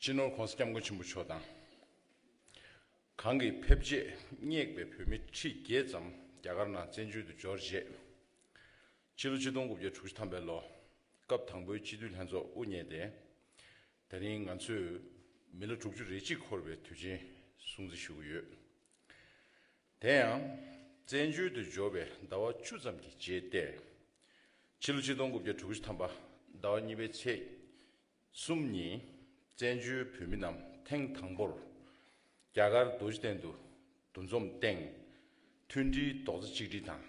སྤྱི་ནོར ྋགོང་ས ྋསྐྱབས་མགོན་ཆེན་པོ་མཆོག་དང། གང་གི་ཕེབས་རྗེས་སྙེག་པའི་བོད་མི་ཁྲི་བརྒྱད་ཙམ་རྒྱ་གར་ནང་བཙན་བྱོལ་དུ་འབྱོར་རྗེས། ཕྱི་ལོ་ཆིག་སྟོང་དགུ་བརྒྱ་དྲུག་ཅུ་ཐམ་པའི་ལོ་སྐབས་དང་པོའི་སྤྱི་འཐུས་ལྷན་ཚོགས་དབུ་བརྙེས་ཏེ། ད་རིང་ང་ཚོས་མི་ལོ་དྲུག་ཅུ་རེ་གཅིག་འཁོར་བའི་དུས་ཆེན་སྲུང་བརྩི་ཞུ་གི་ཡོད། དེ་ཡང། བཙན་བྱོལ་དུ་འབྱོར་བའི་ཟླ་བ་བཅུ་ཙམ་གྱི་རྗེས་ཏེ། ཕྱི་ལོ་ཆིག་སྟོང་དགུ་བརྒྱ་དྲུག་ཅུ་ཐམ་པ་ཟླ་བ་གཉིས་པའི་ཚེས་གསུམ་ཉིན། བཙན་བྱོལ་བོད་མི་རྣམས་ཐེངས་དང་པོར་རྒྱ་གར་རྡོ་རྗེ་གདན་དུ་འདུ་འཛོམས་སྟེང། མཐུན་སྒྲིལ་རྡོག་རྩ་གཅིག་སྒྲིལ་དང།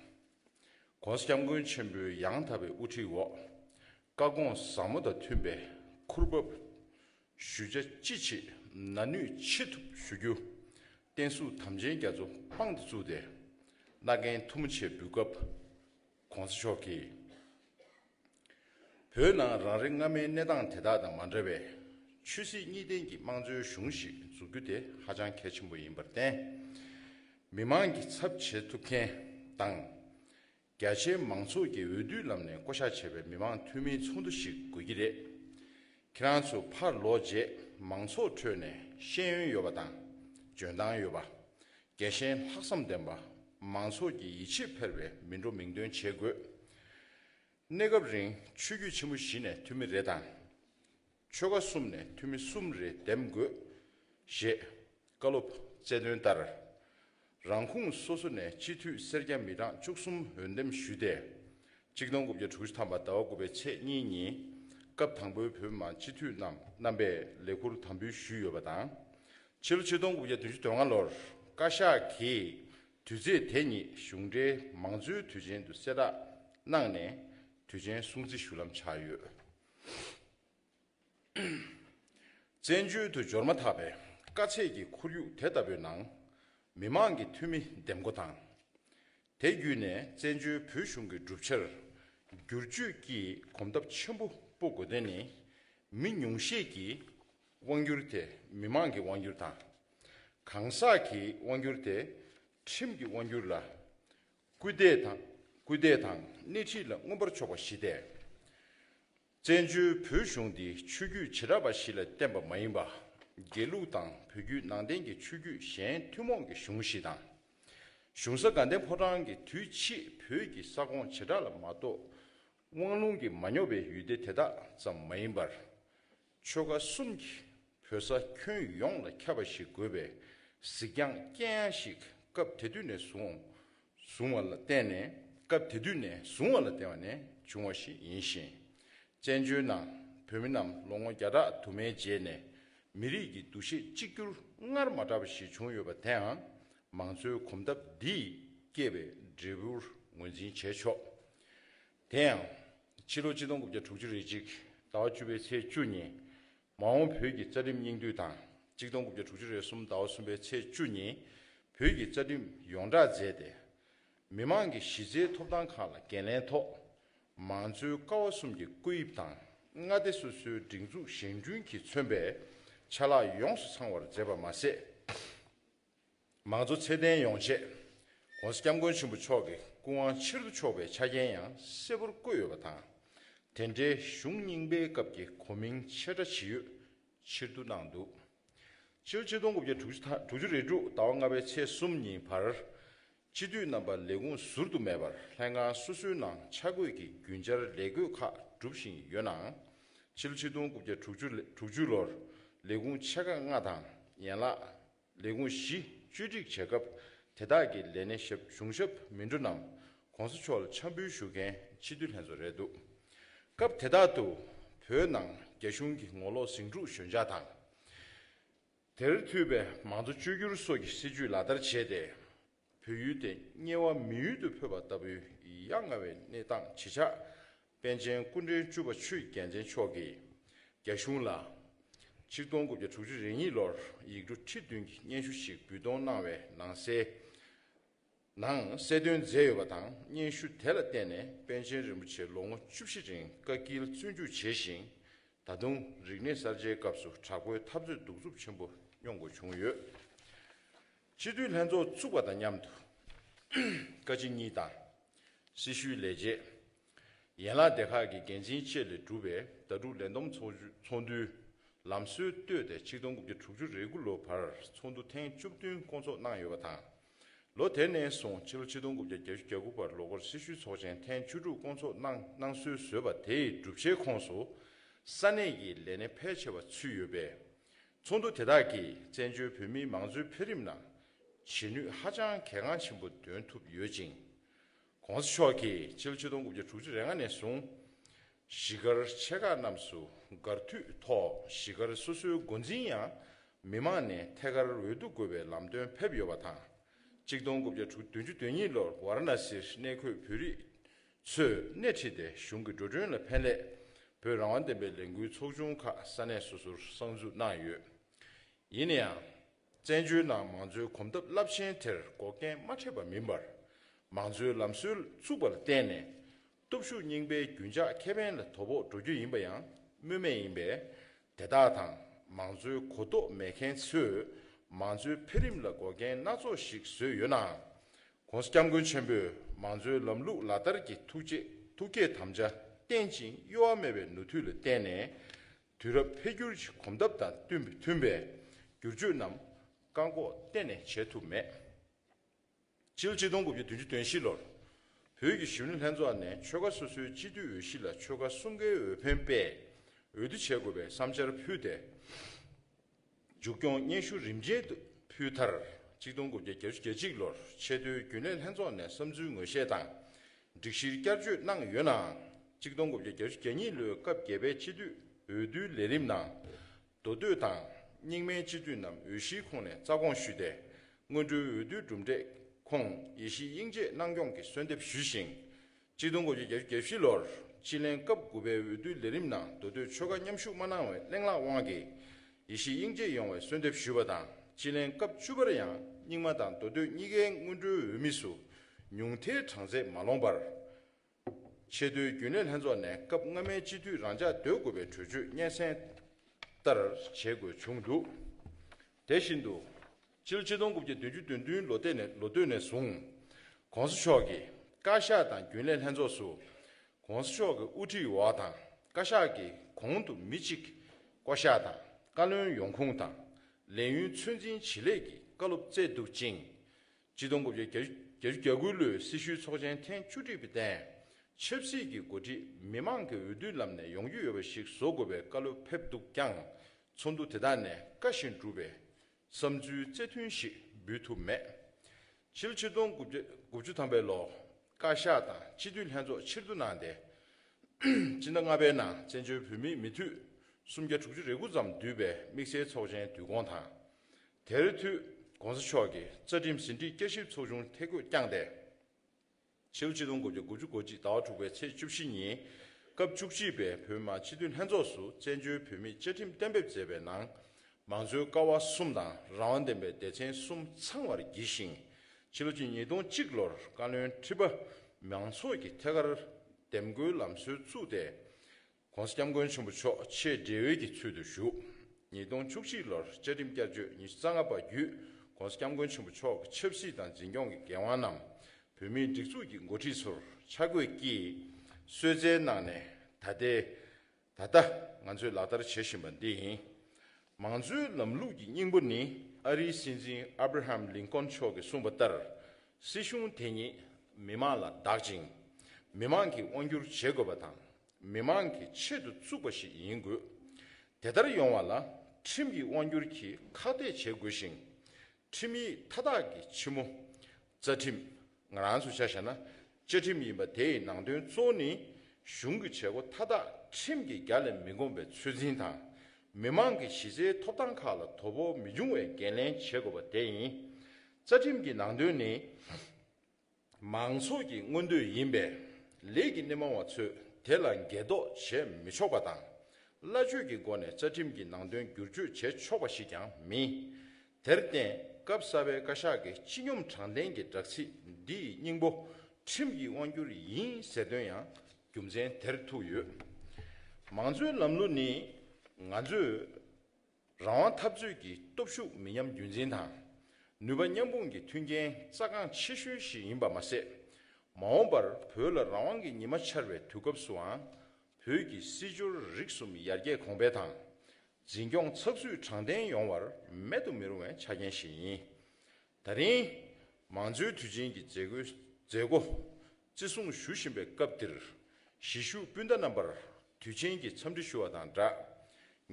ྋགོང་ས ྋསྐྱབས་མགོན་ཆེན་པོའི་ཡང་དག་པའི་དབུ་ཁྲིད་འོག། བཀའ་དགོངས་ཟབ་མོ་དང་མཐུན་པའི་ཁུར་བབས། ཞུ་བྱ་ཅི་བྱེད་ན་ནུས་ཅི་ཐུབ་ཞུ་རྒྱུ། བསྟན་སྲུང་དམ་ཅན་རྒྱ་མཚོ་དཔང་དུ་བཙུགས་ཏེ། བླ་རྒན་ཐུ་མོ་ཆེ་འབུལ་སྐབས། གོང་ས་མཆོག་གིས། བོད་ནང་རང་རེ་སྔ་མའི་གནས་སྟངས་དེ་དག་དང་མ་འདྲ་བའི། ཆོས་སྲིད་གཉིས་ལྡན་གྱི་དམངས་གཙོའི་གཞུང་ཞིག་འཛུགས་རྒྱུ་དེ་ཧ་ཅང་གལ་ཆེན་པོ་ཡིན་པར་བརྟེན། མི་མང་གི་ཚབ་བྱེད་ཐུབ་མཁན་དང། རྒྱ་ཆེའི་མང་ཚོགས་ཀྱིས་འོས་བསྡུའི་ལམ་ནས་བསྐོ་གཞག་བྱས་པའི་མི་མང་འཐུས་མིའི་ཚོགས་འདུ་ཞིག་དགོས་ཀྱི་རེད། ཁྱེད་རང་ཚོས་ཕར་ལོག་རྗེས་མང་ཚོགས་ཁྲོད་ནས་ཤེས་ཡོན་ཡོད་པ་དང་འཇོན་ཐང་ཡོད་པ། རྒྱལ་ཞེན་ལྷག་བསམ་ལྡན་པ། མང་ཚོགས་ཀྱི་ཡིད་ཆེས་འཕེར་བའི་མི་འགྲོ་མིང་འདོན་བྱེད་དགོས། གནས་སྐབས་རིང་ཆོས་རྒྱུད་ཆེན་པོ་བཞི་ནས་འཐུས་མི་རེ་དང། ཆོལ་ཁ་གསུམ་ནས་འཐུས་མི་གསུམ་རེ་འདེམས་དགོས། ཞེས་བཀའ་སློབ་སྩལ་དོན་ལྟར། རང་ཁུངས་སོ་སོ་ནས་སྤྱི་འཐུས་སེར་སྐྱ་མི་གྲངས་བཅུ་གསུམ་འོས་འདེམས་ཞུས་ཏེ། གཅིག་སྟོང་དགུ་བརྒྱ་དྲུག་ཅུ་ཐམ་པ་ཟླ་བ་དགུ་པའི་ཚེས་གཉིས་ཉིན། སྐབས་དང་པོའི་བོད་མི་མང་སྤྱི་འཐུས་རྣམས་རྣམ་པས་ལས་འཁུར་དམ་འབུལ་ཞུས་ཡོད་པ་དང། ཕྱི་ལོ་ཆིག་སྟོང་དགུ་བརྒྱ་བདུན་ཅུ་དོན་ལྔ་ལོར་བཀའ་ཤག་གིས་དུས་ཚེས་དེ་ཉིད་གཞུང་འབྲེལ་མང་གཙོའི་དུས་ཆེན་དུ་གསལ་བསྒྲགས་གནང་ནས་དུས་ཆེན་སྲུང་བརྩི་ཞུ་ལམ་ཆགས་ཡོད། བཙན་བྱོལ་དུ་འབྱོར་མ་ཐག་པའི་དཀའ་ཚེགས་ཀྱི་ཁོར་ཡུག་དེ་ལྟ་བུའི་ནང། མི་མང་གི་འཐུས་མི་འདེམས་བསྐོ་དང། དེ་བརྒྱུད་ནས་བཙན་བྱོལ་བོད་གཞུང་གི་གྲུབ་ཆར་བསྒྱུར་བཅོས་ཀྱི་གོམ་སྟབས་ཆེན་པོ་སྤོ་དགོས་དོན་ནི། མི་ཉུང་ཤས་ཀྱི་དབང་བསྒྱུར་དེ་མི་མང་གི་དབང་བསྒྱུར་དང། གང་ཟག་གི་དབང་བསྒྱུར་དེ་ཁྲིམས་ཀྱི་དབང་བསྒྱུར་ལ་སྐུལ་འདེད་དང་སྐུལ་འདེད་དང་སྣེ་ཁྲིད་ལ་མངོན་པར་ཕྱོགས་པ་བཞི་སྟེ། བཙན་བྱོལ་བོད་གཞུང་འདི་ཆོས་བརྒྱུད་བྱེ་བྲག་པ་བཞི་ལ་བརྟེན་པ་མ་ཡིན་པ། དགེ་ལུགས་དང་བོད་བརྒྱུད་ནང་བསྟན་གྱི་ཆོས་བརྒྱུད་གཞན་ཐུན་མོང་གི་གཞུང་བཞི་དང། གཞུང་ས་དགའ་ལྡན་ཕོ་བྲང་གི་དུས་ཕྱིས་བོད་ཀྱི་ས་ཁོངས་བྱེ་བྲག་ལ་མ་གཏོགས། དབང་ལུང་གིས་མ་ཉོབ་པའི་ཡུལ་སྡེ་དེ་དག་ཙམ་མ་ཡིན་པར། ཆོལ་ཁ་གསུམ་གྱི་བོད་ས་ཁྱོན་ཡོངས་ལ་ཁྱབ་པ་ཞིག་དགོས་པའི་གཟིགས་རྒྱང་རྐྱེན་ཡང་ཞིག་སྐབས་དེ་དུས་ནས་བཟུང་བ་ལ་བརྟེན་ནས་སྐབས་དེ་དུས་ནས་བཟུང་བ་ལ་བརྟེན་བ་ནས་བྱུང་བ་ཞིག་ཡིན་ཞིང། བཙན་བྱོལ་ནང་བོད་མི་རྣམས་ལོ་ངོ་བརྒྱ་ཕྲག་དུ་མའི་རྗེས་ནས་མི་རིགས་ཀྱི་འདུ་ཤེས་གཅིག་གྱུར་སྔར་མ་གྲགས་པ་ཞིག་བྱུང་ཡོད་པ་དེའང་མང་གཙོའི་གོམ་སྟབས་འདིས་བསྐྱེད་པའི་འབྲས་བུར་ངོས་འཛིན་བྱས་ཆོག་དེ་ཡང། ཕྱི་ལོ་སྤྱི་སྟོང་དགུ་བརྒྱ་དྲུག་ཅུ་རེ་གཅིག་ཟླ་བ་བཅུ་པའི་ཚེས་བཅུ་ཉིན། མ་འོངས་བོད་ཀྱི་རྩ་ཁྲིམས་སྙིང་བསྡུས་དང་གཅིག་སྟོང་དགུ་བརྒྱ་དྲུག་ཅུ་རེ་གསུམ་ཟླ་བ་གསུམ་པའི་ཚེས་བཅུ་ཉིན། བོད་ཀྱི་རྩ་ཁྲིམས་ཡོངས་བསྒྲགས་མཛད་དེ། མི་དམངས་ཀྱི་གཞི་རྩའི་ཐོབ་ཐང་ཁག་ལ་འགན་ལེན་ཐོག། མང་གཙོའི་ཀ་བ་གསུམ་གྱི་བཀོད་དབྱིབས་དང་མངའ་སྡེ་སོ་སོའི་སྒྲིག་འཛུགས་བཞེངས་སྐྲུན་གྱིས་མཚོན་པའི་ཆ་ལག་ཡོངས་སུ་ཚང་བར་མཛད་པ་མ་ཟད། མང་གཙོ་ཚད་ལྡན་ཡོང་ཆེད ྋགོང་ས ྋསྐྱབས་མགོན་ཆེན་པོ་མཆོག་གི་སྐུ་དབང་ཕྱིར་བསྡུ་ཆོག་པའི་ཆ་རྐྱེན་ཡང་གསལ་པོར་བཀོད་ཡོད་པ་དང། དེ་འབྲེལ་གཞུང་རྙིང་པའི་སྐབས་ཀྱི་གོ་མིང་ཆེ་ཕྲ་ཇི་ཡོད་ཕྱིར་བསྡུ་གནང་འདུག་ཕྱི་ལོ་ཆིག་སྟོང་དགུ་བརྒྱ་དྲུག་ཅུ་དང་དྲུག་ཅུ་རེ་དྲུག་ཟླ་བ་ལྔ་པའི་ཚེས་གསུམ་ཉིན་བར་སྤྱི་འཐུས་རྣམ་པ་ལས་ཁུངས་ཟུར་དུ་མེད་པར་ལྷན་ཁང་སོ་སོའི་ནང་ཆ་བགོས་ཀྱིས་རྒྱུན་ཆར་ལས་བགོས་ཁག་སྒྲུབ་བཞིན་ཡོད་ནའང། ཕྱི་ཕྱི་སྟོང་དགུ་བརྒྱ་དྲུག་ཅུ་དྲུག་ཅུ་ལོར་ལས་ཁུངས་ཆེ་ཁག་ལྔ་དང་ཡན་ལག་ལས་ཁུངས་བཞི་བཅོས་སྒྲིག་བྱེད་སྐབས་དེ་དག་གི་ལས་སྣེ་ཞབས་གཞུང་ཞབས་མི་འགྲོ་རྣམས་གོང་ས་མཆོག་ལ་འཆམ་འབུལ་ཞུ་མཁན་སྤྱི་འཐུས་ལྷན་ཚོགས་རེད་འདུག་སྐབས་དེ་དག་ཏུ་བོད་ནང་རྒྱ་གཞུང་གི་ངོ་ལོག་ཟིང་འཁྲུག་ཞོད་འཇགས་དང། དེར་མཐུད་པའི་མང་གཙོ་བཅོས་སྒྱུར་སོགས་ཀྱི་སྲིད་ཇུས་ལག་བསྟར་བྱས་ཏེ། བོད་ཡུལ་དེ་དམྱལ་བ་མི་ཡུལ་དུ་འཕོས་པ་ལྟ་བུའི་ཡ་ང་བའི་གནས་སྟངས་ཇི་ཆགས་པཎ་ཆེན་སྐུ་འཕྲེང་བཅུ་པ་ཆོས་རྒྱལ་མཚན་མཆོག་གིས་རྒྱ་གཞུང་ལ། ཆིག་སྟོང་དགུ་བརྒྱ་དྲུག་ཅུ་རེ་གཉིས་ལོར་ཡིག་འབྲུ་ཁྲི་བདུན་གྱི་སྙན་ཞུ་ཞིག་འབུལ་གཏོང་གནང་བའི་ནང་གསལ། ནང་གསལ་སྟོན་མཛད་ཡོད་པ་དང་སྙན་ཞུ་དེ་ལ་བརྟེན་ནས་པཎ་ཆེན་རིན་པོ་ཆེ་ལོ་ངོ་བཅུ་བཞི་རིང་བཀའ་སྐྱིལ་བཙོན་བཅུག་བྱས་ཤིང། ད་དུང་རིག་གནས་གསར་བརྗེའི་སྐབས་སུ་དྲག་པོའི་འཐབ་རྩོད་གདུག་རྩུབ་ཆེན་པོ་མྱོང་དགོས་བྱུང་ཡོད། སྤྱི་འཐུས་ལྷན་ཚོགས་བཙུགས་པ་དང་མཉམ་དུ། བཀའ་སྤྱི་གཉིས་དང། སྲི་ཞུའི་ལས་བྱེད། ཡན་ལག་སྡེ་ཁག་གི་འགན་འཛིན་བཅས་ལས་གྲུབ་པའི་ཟླ་དྲུག་ལས་འདོམས་ཚོགས་འདུའི་ལམ་སྲོལ་བཏོད་དེ་ཆིག་སྟོང་དགུ་བརྒྱ་དྲུག་ཅུ་རེ་དགུ་ལོ་བར་ཚོགས་འདུ་ཐེངས་བཅུ་བདུན་སྐོང་ཚོགས་གནང་ཡོད་པ་དང། ལོ་དེ་ནས་བཟུང་ཕྱི་ལོ་ཆིག་སྟོང་དགུ་བརྒྱ་གྱ་བཞི་གྱ་དགུ་བར་ལོ་འཁོར་སེར་ཤུལ་ཚོགས་ཆེན་ཐེངས་བཅུ་དྲུག་སྐོང་ཚོགས་གནང་གནང་སྲོལ་བཟོས་པ་དེའི་སྒྲུབ་བྱའི་ཁོངས་སུ་ས་གནས་ཀྱི་ལས་སྣེ་ཕལ་ཆེ་བ་ཚུད་ཡོད་པས། ཚོགས་འདུ་དེ་དག་གིས་བཙན་བྱོལ་བོད་མིའི་མང་གཙོའི་འཕེལ་རིམ་ནང་བྱེད་ནུས་ཧ་ཅང་གལ་འགངས་ཆེན་པོ་འདོན་ཐུབ་ཡོད་ཅིང། གོང་ས་མཆོག་གིས་ཕྱི་ལོ་ཆིག་སྟོང་དགུ་བརྒྱ་དྲུག་ཅུ་རེ་ལྔ་ནས་བཟུང། གཞིས་སྒར་ཆེ་ཁག་རྣམས་སུ་སྒར་མཐུད་ཐོག་གཞིས་སྒར་སོ་སོའི་འགོ་འཛིན་ཡང་མི་མང་ནས་ཐད་ཀར་འོས་བསྡུ་དགོས་པའི་ལམ་སྟོན་ཕེབས་ཡོད་པ་དང། ཆིག་སྟོང་དགུ་བརྒྱ་དྲུག་བདུན་ཅུ་དོན་གཉིས་ལོར་ཝཱ་ར་ན་སིར་གནས་འཁོད་བོད་རིགས་ཚོས་སྣེ་ཁྲིད་དེ་གཞུང་གི་འགྲོ་གྲོན་ལ་ཕན་སླད་བོད་རང་དབང་བདེན་པའི་ལས་འགུལ་ཚོགས་ཆུང་ཁག་ས་གནས་སོ་སོར་གསར་འཛུགས་གནང་ཡོད། ཡིན་ན་ཡང། བཙན་བྱོལ་ནང་མང་གཙོའི་གོམ་སྟབས་རླབས་ཆེན་དེར་འགོག་རྐྱེན་མ་འཕྲད་པ་མིན་པར། མང་གཙོའི་ལམ་སྲོལ་བཙུགས་པ་ལ་བརྟེན་ནས། སྟོབས་ཤུགས་རྙིང་པའི་རྒྱུན་འཇགས་ཁེ་ཕན་ལ་དོ་ཕོག་འགྲོ་རྒྱུ་ཡིན་པ་ཡང་སྨོས་མེད་ཡིན་པས། དེ་དག་དང་མང་གཙོའི་གོ་རྟོགས་མེད་མཁན་ཚོས་མང་གཙོའི་འཕེལ་རིམ་ལ་འགོག་རྐྱེན་སྣ་ཚོགས་ཤིག་བཟོས་ཡོད་ནའང། ྋགོང་ས ྋསྐྱབས་མགོན་ཆེན་པོས་མང་གཙོའི་ལམ་ལུགས་ལག་བསྟར་གྱི་ཐུགས་བསྐྱེད་དམ་བཅའ་བརྟན་ཅིང་གཡོ་བ་མེད་པའི་ནུས་མཐུ་ལ་བརྟེན་ནས། དུས་རབས་འཕེལ་འགྱུར་གྱི་གོམ་སྟབས་དང་མཐུན་པའི་བསྒྱུར་བཅོས་རྣམས་བཀག་འགོག་གཏན་ནས་བྱས་ཐུབ་མེད། ཅིའུ་གཅིག་སྟོང་དགུ་བརྒྱ་བདུན་ཅུ་དོན་བཞི་ལོར་བོད་ཀྱི་གཞོན་ནུ་ལྷན་ཚོགས་ནས་ཆོལ་ཁ་སོ་སོའི་སྤྱི་མཐུས་འོས་གཞི་ལ་ཆོལ་ཁ་གསུམ་ཀའི་འོས་འཕེན་པས་འོས་བསྡུ་བྱེད་དགོས་པའི་བསམ་འཆར་ཕུལ་ཏེ། མཇུག་སྐྱོང་སྙན་ཞུ་རིམ་ཅན་དུ་ཕུལ་མཐར། གཅིག་སྟོང་དགུ་བརྒྱ་གྱ་བཞི་གྱ་གཅིག་ལོར་ཆེས་མཐོའི་རྒྱུན་ལས་ལྷན་ཚོགས་ནས་བསམ་ཚུལ་ངོས་བཞེས་དང་སྒྲིག་གཞིར་བསྐྱར་བཅོས་གནང་ཡོད་ནའང། གཅིག་སྟོང་དགུ་བརྒྱ་གྱ་བཞི་གྱ་གཉིས་ལོའི་སྐབས་བརྒྱད་པའི་སྤྱི་འཐུས་འོས་བསྡུའི་ལས་རིམ་ནང། མདོ་སྟོད་དང་རྙིང་མའི་སྤྱི་འཐུས་རྣམས་འོས་གཞིའི་ཁོངས་ནས་རྩ་དགོངས་ཞུས་ཏེ། སྔོན་འགྲོའི་འོས་བསྡུའི་གྲུབ་འབྲས་ཁོངས་ཡེ་ཤེས་དབྱིངས་རྗེས་གནང་སྐྱོང་གི་གསོལ་འདེབས་ཞུས་ཤིང། སྤྱི་སྟོང་དགུ་བརྒྱ་བརྒྱད་བརྒྱད་བཞི་ལོར་སྤྱི་ལྷན་སྐབས་དགུ་པའི་འོས་བསྡུའི་ལས་རིམ་ནང་མདོ་སྟོད་ཆོལ་ཁ་མཉམ་ཞུགས་མ་གནང་བའི་གླེང་ལག་དབང་གིས་ཡེ་ཤེས་དབྱིངས་དཔྱད་ཡོང་བའི་གསོལ་འདེབས་ཞུས་པ་དང་སྤྱི་ལྷན་སྐབས་བཅུ་པར་ཡང་རྙིང་མ་དང་མདོ་སྟོད་གཉིས་ཀའི་སྔོན་འགྲོའི་འོས་མི་སུ་ཉུང་ཐལ་གྲངས་ཚད་མ་ལོངས་པར། ཆེས་མཐོའི་རྒྱུན་ལས་ལྷན་ཚོགས་ནས་སྐབས་སྔ་མའི་སྤྱི་འཐུས་རང་འཇགས་འདོད་དགོས་པའི་གྲོས་ཆོད་སྙན་སེང་ལྟར་བྱེད་དགོས་བྱུང་འདུག་དེ་བཞིན་དུ། ཕྱི་ལོ་ཆིག་སྟོང་དགུ་བརྒྱ་བདུན་ཅུ་བདུན་བདུན་ལོ་སྟེ་ནས་ལོ་སྟོད་ནས་བཟུང། ྋགོང་ས་མཆོག་གིས་བཀའ་ཤག་དང་རྒྱུན་ལས་ལྷན་ཚོགས་སུ ྋགོང་ས་མཆོག་གི་དབུ་ཁྲིད་འོག་དང་བཀའ་ཤག་གི་གོང་དུ་མི་གཅིག་བསྐོ་གཞག་དང་བཀའ་བློན་ཡོང་ཁུངས་དང་ལས་ཡུན་ཚོད་འཛིན་ཇི་ལེགས་ཀྱི་བཀའ་སློབ་བསྩལ་འདུག་ཅིང། ཆིག་སྟོང་དགུ་བརྒྱ་གྱ་བཅུ་གྱ་དགུ་ལོའི་སྲི་ཞུའི་ཚོགས་ཆེན་ཐེངས་བཅུ་དྲུག་པའི་སྟེང་ཆབ་སྲིད་ཀྱི་འགོ་ཁྲིད་མི་མང་གི་འོས་བསྡུའི་ལམ་ནས་ཡོང་རྒྱུ་ཡོད་པ་ཞིག་བཟོ་དགོས་པའི་བཀའ་སློབ་ཕེབས་འདུག་ཀྱང་ཚོགས་འདུ་དེ་དག་ནས་བཀའ་བཞིན་བསྒྲུབས་པས་བསམ་ཚུལ་རྩེ་མཐུན་ཞིག་འབུལ་ཐུབ་མེད། ཕྱི་ལོ་ཆིག་སྟོང་དགུ་བརྒྱ་དགུ་བཅུ་ཐམ་པའི་ལོར་བཀའ་ཤག་དང་སྤྱི་འཐུས་ལྷན་ཚོགས་ཕྱིར་བསྡུ་གནང་སྟེ། སྤྱི་ཟླ་ལྔ་པའི་ནང་བཙན་བྱོལ་བོད་མིའི་མི་མཐུད་སུམ་བརྒྱ་དྲུག་ཅུ་རེ་དགུ་ཙམ་བསྡུས་པའི་དམིགས་བསལ་ཚོགས་ཆེན་བསྡུ་བསྐོང་དང། དེར་མཐུད ྋགོང་ས་མཆོག་གིས་རྩ་ཁྲིམས་ཟིན་བྲིས་བསྐྱར་ཞིབ་ཚོགས་ཆུང་ཐད་བསྐོས་བསྐྱངས་ཏེ། ཕྱི་ལོ་ཆིག་སྟོང་དགུ་བརྒྱ་དགུ་ཅུ་གོ་གཅིག་ཟླ་བ་དྲུག་པའི་ཚེས་བཅུ་བཞི་ཉིན། སྐབས་བཅུ་གཅིག་པའི་བོད་མང་སྤྱི་འཐུས་ལྷན་ཚོགས་སུ་བཙན་བྱོལ་བོད་མིས་བཅའ་ཁྲིམས་གཏན་འབེབས་མཛད་པའི་ནང། མང་གཙོའི་ཀ་བ་གསུམ་དང་རང་དབང་ལྡན་པའི་སྡེ་ཚན་གསུམ་ཚང་བར་བགྱིས་ཤིང། ཕྱི་ལོ་གཅིག་ཉིས་སྟོང་གཅིག་ལོར་བཀའ་བློན་ཁྲི་པ་མང་ཚོགས་ཀྱི་ཐད་ཀར་འདེམས་བསྐོའི་ལམ་སྲོལ་བཙུགས་ཏེ། ྋགོང་ས ྋསྐྱབས་མགོན་ཆེན་པོ་མཆོག་ཆེད་འབྲེལ་ཡོད་ཀྱི་ཚུལ་དུ་བཞུགས། ཉིས་སྟོང་བཅུ་གཅིག་ལོར་བཅའ་ཁྲིམས་བསྐྱར་བཅོས་ཉིས་བརྩ་ལྔ་པ་བརྒྱུད ྋགོང་ས ྋསྐྱབས་མགོན་ཆེན་པོ་མཆོག་གི་ཆབ་སྲིད་དང་འཛིན་སྐྱོང་གི་འགན་དབང་རྣམས་བོད་མིའི་སྒྲིག་འཛུགས་ཀྱི་མགོ་ཁྲིད་ཚོར་ཆ་བགོས་ཀྱིས་གསོལ་བསྩལ་གནང་ནས་ད་ལྟའི་ད་ལྟ་ང་ཚོས་ལག་བསྟར་བྱེད་བཞིན་པ་འདི་ཡིན། མང་གཙོའི་ལམ་ལུགས་ཀྱི་སྙིང་པོ་ནི་ཨ་རིའི་སྲིད་འཛིན Abraham Lincoln མཆོག་གིས་གསུངས་པ་ལྟར་སྲིད་གཞུང་དེ་ཉིད་མི་དམངས་ལ་བདག་ཅིང་མི་དམངས་ཀྱིས་དབང་སྒྱུར་བྱེད་དགོས་པ་དང་མི་མང་གི་ཆེད་དུ་བཙུགས་པ་ཞིག་ཡིན་དགོས། དེ་ལྟར་ཡོང་བ་ལ་ཁྲིམས་ཀྱིས་དབང་སྒྱུར་གྱིས་ཁག་ཐེག་བྱེད་དགོས་ཤིང། ཁྲིམས་ཡིག་མཐའ་དག་གི་ཕྱི་མོ། རྩ་ཁྲིམས། ང་རང་ཚོས་ཆ་བཞག་ན་བཅའ་ཁྲིམས་ཡིན་པ་དེའི་ནང་དོན་གཙོ་བོ་ནི། གཞུང་གི་བྱེད་སྒོ་མཐའ་དག་ཁྲིམས་ཀྱི་རྒྱ་ལས་མི་འགོངས་པའི་ཚོད་འཛིན་དང། མི་མང་གི་གཞི་རྩའི་ཐོབ་ཐང་ཁག་ལ་དོ་ཕོག་མི་འབྱུང་བའི་འགན་ལེན་བྱེད་དགོས་པ་དེ་ཡིན། རྩ་ཁྲིམས་ཀྱི་ནང་དོན་ནི། མང་ཚོགས་ཀྱི་མངོན་འདོད་ཡིན་པས་ལས་ཀྱི་སྣེ་མང་བ་ཚོས་དེ་ལ་འགལ་འདོག་བྱེད་མི་ཆོག་པ་དང། སླ་བཅོས་ཀྱི་སྒོ་ནས་རྩ་ཁྲིམས་ཀྱི་ནང་དོན་བསྒྱུར་བཅོས་བྱེད་ཆོག་པ་ཞིག་ཀྱང་མིན། དེར་བརྟེན་སྐབས་གསར་པའི་བཀའ་ཤག་གི་སྤྱི་སྙོམས་དྲང་བདེན་གྱི་སྦྲག་ཚིག་འདི་ཡི་སྙིང་པོ་ཁྲིམས་ཀྱི་དབང་བསྒྱུར་ཡིན་ཟེར་དོན་ཡང་རྒྱུ་མཚན་དེར་ཐུག་ཡོད། མང་གཙོའི་ལམ་ལུགས་ནི་ང་ཚོས། རང་དབང་འཐབ་རྩོད་ཀྱི་སྟོབས་ཤུགས་མི་ཉམས་རྒྱུན་འཛིན་དང། ནུས་པ་མཉམ་སྤུངས་ཀྱི་མཐུན་རྐྱེན་རྩ་འགངས་ཆེ་ཤོས་ཤིག་ཡིན་པ་མ་ཟད། མ་འོངས་པར་བོད་ལ་རང་དབང་གི་ཉི་མ་འཆར་བའི་དུས་སྐབས་སུའང། བོད་ཀྱི་སྲིད་འབྱོར་རིག་གསུམ་ཡར་རྒྱས་གོང་འཕེལ་དང། འཛིན་སྐྱོང་ཚགས་ཚུད་དྲང་བདེན་ཡོང་བར་མེད་དུ་མི་རུང་བའི་ཆ་རྐྱེན་ཞིག་ཡིན། ད་རིང། མང་གཙོའི་དུས་ཆེན་གྱི་མཛད་སྒོའི་མཛད་སྒོ་བརྩི་སྲུང་ཞུ་བཞིན་པའི་སྐབས་འདིར། གཞིས་བཞུགས་སྤུན་ཟླ་རྣམ་པར་དུས་ཆེན་གྱི་འཚམས་འདྲི་ཞུ་བ་དང་སྦྲགས།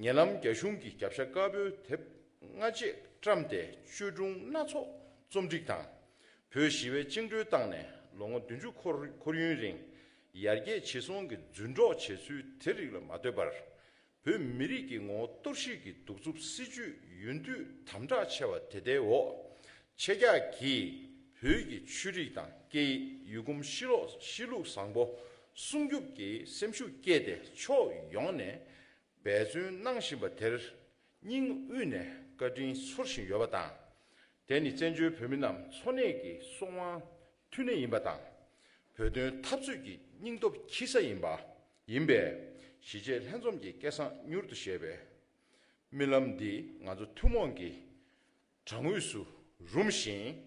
ཉེ་ལམ་རྒྱ་གཞུང་གིས་རྒྱབ་ཤ་དཀར་པོའི་དེབ་སྔ་རྗེས་བཀྲམས་ཏེ་བཅོས་སྒྲུང་སྣ་ཚོགས་རྩོམ་སྒྲིག་དང། བོད་ཞི་བས་བཅིངས་འགྲོལ་བཏང་ནས་ལོ་ངོ་བདུན་ཅུ་འཁོར་ཡུན་རིང། ཡར་རྒྱས་ཇེ་སོང་གི་རྫུན་སྒྲོག་བྱས་ཚུལ་དེ་རིགས་ལ་མ་ལྟོས་པར། བོད་མི་རིགས་ཀྱི་ངོ་བོ་གཏོར་བཤིག་གི་གདུག་རྩུབ་སྲིད་ཇུས་ཡུན་དུས་དམ་དྲག་ཆེ་བ་དེ་ལྟའི་འོག་ཆེ་རྒྱག་གིས་བོད་ཀྱི་ཆོས་རིག་དང་སྐད་ཡིག་ཡུལ་གོམས་གཤིས་ལོག་གཤིས་ལུགས་བཟང་པོ་སྲུང་སྐྱོབ་ཀྱི་སེམས་ཤུགས་བསྐྱེད་དེ་ཕྱོགས་ཡོངས་ནས་འབད་བརྩོན་གནང་བཞིན་པ་དེར་སྙིང་དབུས་ནས་བཀའ་དྲིན་ཚོར་བཞིན་ཡོད་པ་དང། དེ་ནི་བཙན་བྱོལ་བོད་མི་རྣམས་འཚོ་གནས་ཀྱི་སྲོག་དབང་མཐུན་གནས་ཡིན་པ་དང། བོད་དོན་འཐབ་རྩོད་ཀྱི་སྙིང་སྟོབས་འཁྱིལ་ས་ཡིན་པ་ཡིན་པས། གཞིས་བྱེས་ལྷན་འཛོམས་ཀྱི་སྐལ་བཟང་མྱུར་དུ་བཞད་པའི་རྨི་ལམ་འདི་ང་ཚོ་ཐུན་མོང་གི་བགྲང་དབུས་སུ་རུམ་ཞིང།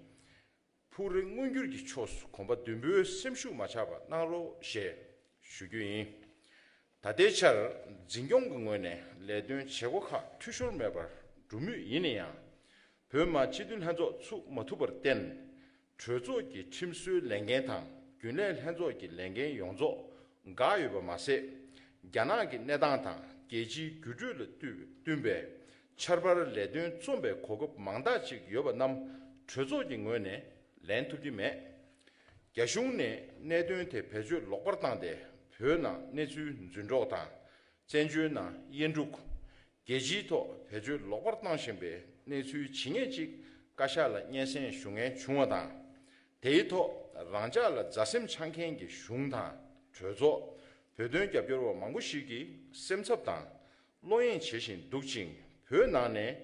ཕུགས་རེ་མངོན་འགྱུར་གྱི་ཕྱོགས་སུ་གོམ་པ་མདུན་སྤོའི་སེམས་ཤུགས་མ་ཆག་པ་གནང་རོགས་ཞེས་ཞུ་རྒྱུ་ཡིན། ད་ལྟའི་ཆར་འཛིན་སྐྱོང་གི་ངོས་ནས་ལས་དོན་བྱེད་སྒོ་ཁག་འཐུས་ཤོར་མེད་པར་འགྲུབ་མུས་ཡིན་ཡང། བོད་དམག་སྤྱི་མཐུན་ལྷན་ཚོགས་ཚུགས་མ་ཐུབ་པར་བརྟེན། གྲོས་ཚོགས་ཀྱི་ཁྲིམས་བཟོའི་ལས་འགན་དང་རྒྱུན་ལས་ལྷན་ཚོགས་ཀྱི་ལས་འགན་ཡོངས་རྫོགས་འགག་ཡོད་པ་མ་ཟད། རྒྱ་ནག་གི་གནས་སྟངས་དང་རྒྱལ་སྤྱིའི་འགྱུར་འགྲོས་ལ་བསྟུན་པའི་ཆར་པར་ལས་དོན་རྩོམ་པའི་གོ་སྐབས་མང་དག་ཅིག་ཡོད་པ་རྣམས་གྲོས་ཚོགས་ཀྱི་ངོས་ནས་ལེན་ཐུབ་ཀྱི་མེད། རྒྱ་གཞུང་ནས་གནད་དོན་དེ་བེད་སྤྱོད་ལོག་པར་བཏང་སྟེ་བོད་ནང་གནས་ཚུལ་རྫུན་སྒྲོག་དང་བཙན་བྱོལ་ནང་དབྱེན་དཀྲུག། རྒྱལ་སྤྱིའི་ཐོག་བེད་སྤྱོད་ལོག་པར་བཏང་བཞིན་པའི་གནས་ཚུལ་ཇི་སྙེད་ཅིག་བཀའ་ཤག་ལ་སྙན་སེང་ཞུ་ངེས་བྱུང་བ་དང། དེའི་ཐོག་རང་ཅག་ལ་མཛའ་སེམས་འཆང་མཁན་གྱི་གཞུང་དང་གྲོས་ཚོགས། བོད་དོན་རྒྱབ་སྐྱོར་བ་མང་པོ་ཞིག་གིས་སེམས་འཚབ་དང་བློ་གཡེང་བྱེད་བཞིན་འདུག་ཅིང་བོད་ནང་ནས་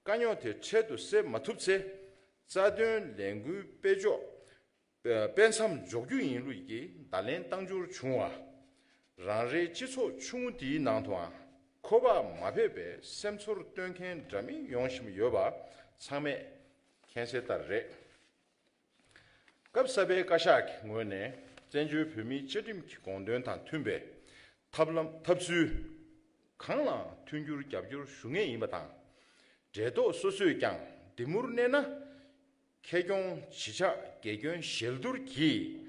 དཀའ་རྙོག་དེ་འཕྲལ་དུ་སེལ་མ་ཐུབ་ཚེ། རྩ་དོན་ལས་འགུལ་སྤེལ་ཕྱོགས། དཔེ་མཚམས་འཇོག་རྒྱུ་ཡིན་ལུགས་ཀྱི་བརྡ་ལན་བཏང་རྒྱུར་བྱུང་བ། རང་རེའི་སྤྱི་ཚོགས་ཆུང་ངུ་འདིའི་ནང་དུའང་ཁོ་པ་མ་ཕེབས་པའི་སེམས་ཚོར་སྟོན་མཁན་འདྲ་མིན་ཡོང་བཞིན་ཡོད་པ་ཚང་མས་མཁྱེན་གསལ་ལྟར་རེད། སྐབས་གསར་པའི་བཀའ་ཤག་གི་ངོས་ནས་བཙན་བྱོལ་བོད་མིའི་བཅའ་ཁྲིམས་ཀྱི་དགོངས་དོན་དང་མཐུན་པའི་ཐབས་ལམ་ཐབས་ཚུལ་གང་ལའང་མཐུན་འགྱུར་རྒྱབ་སྐྱོར་ཞུ་ངེས་ཡིན་པ་དང། འབྲེལ་ཐོགས་སོ་སོས་ཀྱང་འདི་མུར་གནས་ན། ཁེ་སྐྱོང་བྱེད་ཕྱག་རྒྱ་ཁྱོན་ཞལ་བསྡུར་གྱིས།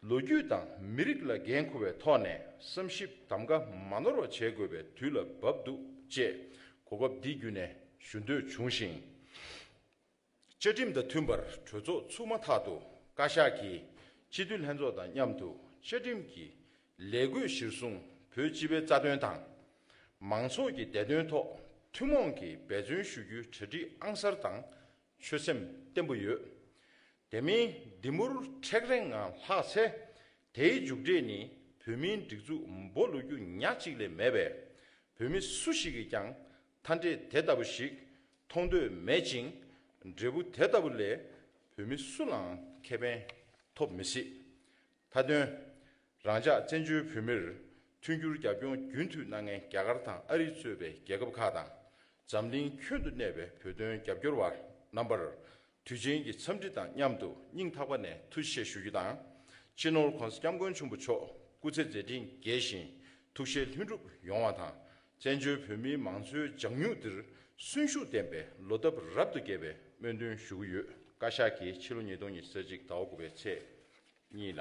ལོ་རྒྱུས་དང་མི་རིགས་ལ་འགན་འཁུར་བའི་ཐོག་ནས་བསམ་ཞིབ་གདམ་ག་མ་ནོར་བ་བྱེད་དགོས་པའི་དུས་ལ་བབ་འདུག་ཅེས་གོ་སྐབས་འདི་བརྒྱུད་ནས་ཞུ་འདོད་བྱུང་ཞིང། བཅའ་ཁྲིམས་དང་མཐུན་པར་གྲོས་ཚོགས་ཚུགས་མ་ཐག་ཏུ་བཀའ་ཤག་གིས་སྤྱི་འཐུས་ལྷན་ཚོགས་དང་མཉམ་དུ་བཅའ་ཁྲིམས་ཀྱི་ལས་བགོས་གཞིར་བཟུང་བོད་སྤྱི་པའི་རྩ་དོན་དང། མང་ཚོགས་ཀྱི་བདེ་དོན་ཐོག་ཐུན་མོང་གིས་འབད་བརྩོན་ཞུ་རྒྱུའི་གྲ་སྒྲིག་ཨང་གསར་དང་ཆོད་སེམས་བརྟན་པོ་ཡོད། དེ་མིན་འདི་མུར་མཁྲེགས་རེངས་ངང་ལྷག་ཚེ། དེའི་མཇུག་འབྲས་ནི་བོད་མིའི་སྒྲིག་འཛུགས་འབོ་བསླུ་རྒྱུ་ཉག་གཅིག་ལས་མེད་པས། བོད་མི་སུ་ཞིག་གིས་ཀྱང་མཐའ་འབྲས་དེ་ལྟ་བུ་ཞིག་མཐོང་འདོད་མེད་ཅིང། འབྲས་བུ་དེ་ལྟ་བུ་ལས་བོད་མི་སུ་ལའང་ཁེ་ཕན་ཐོབ་མི་སྲིད། མཐའ་དོན། རང་ཅག་བཙན་བྱོལ་བོད་མིར་མཐུན་འགྱུར་རྒྱབ་སྐྱོར་རྒྱུན་མཐུད་གནང་མཁན་རྒྱ་གར་དང་ཨ་རི་གཙོས་པའི་རྒྱལ་ཁབ་ཁག་དང། འཛམ་གླིང་ཁྱོན་དུ་གནས་པའི་བོད་དོན་རྒྱབ་སྐྱོར་བ་རྣམ་པར་དུས་ཆེན་གྱི་འཚམས་འདྲི་དང་མཉམ་དུ་སྙིང་ཐག་པ་ནས་ཐུགས་ཆེ་ཞུ་རྒྱུ་དང། སྤྱི་ནོར ྋགོང་ས ྋསྐྱབས་མགོན་ཆེན་པོ་མཆོག་སྐུ་ཚེ་མཛད་དྲིན་རྒྱས་ཤིང་ཐུགས་བཞེད་ལྷུན་འགྲུབ་ཡོང་བ་དང་བཙན་བྱོལ་བོད་མིའི་མང་གཙོའི་ལྗང་མྱུག་འདིར་གསོན་ཤུགས་ལྡན་པའི་ལོ་འདབ་རབ་ཏུ་རྒྱས་པའི་སྨོན་འདུན་ཞུ་གི་ཡོད། བཀའ་ཤག་གིས་ཕྱི་ལོ་ཉིས་སྟོང་ཉིས་སྟོང་ཚེས་གཅིག་ཟླ་བ་དགུ་པའི་ཚེས་གཉིས་ལ།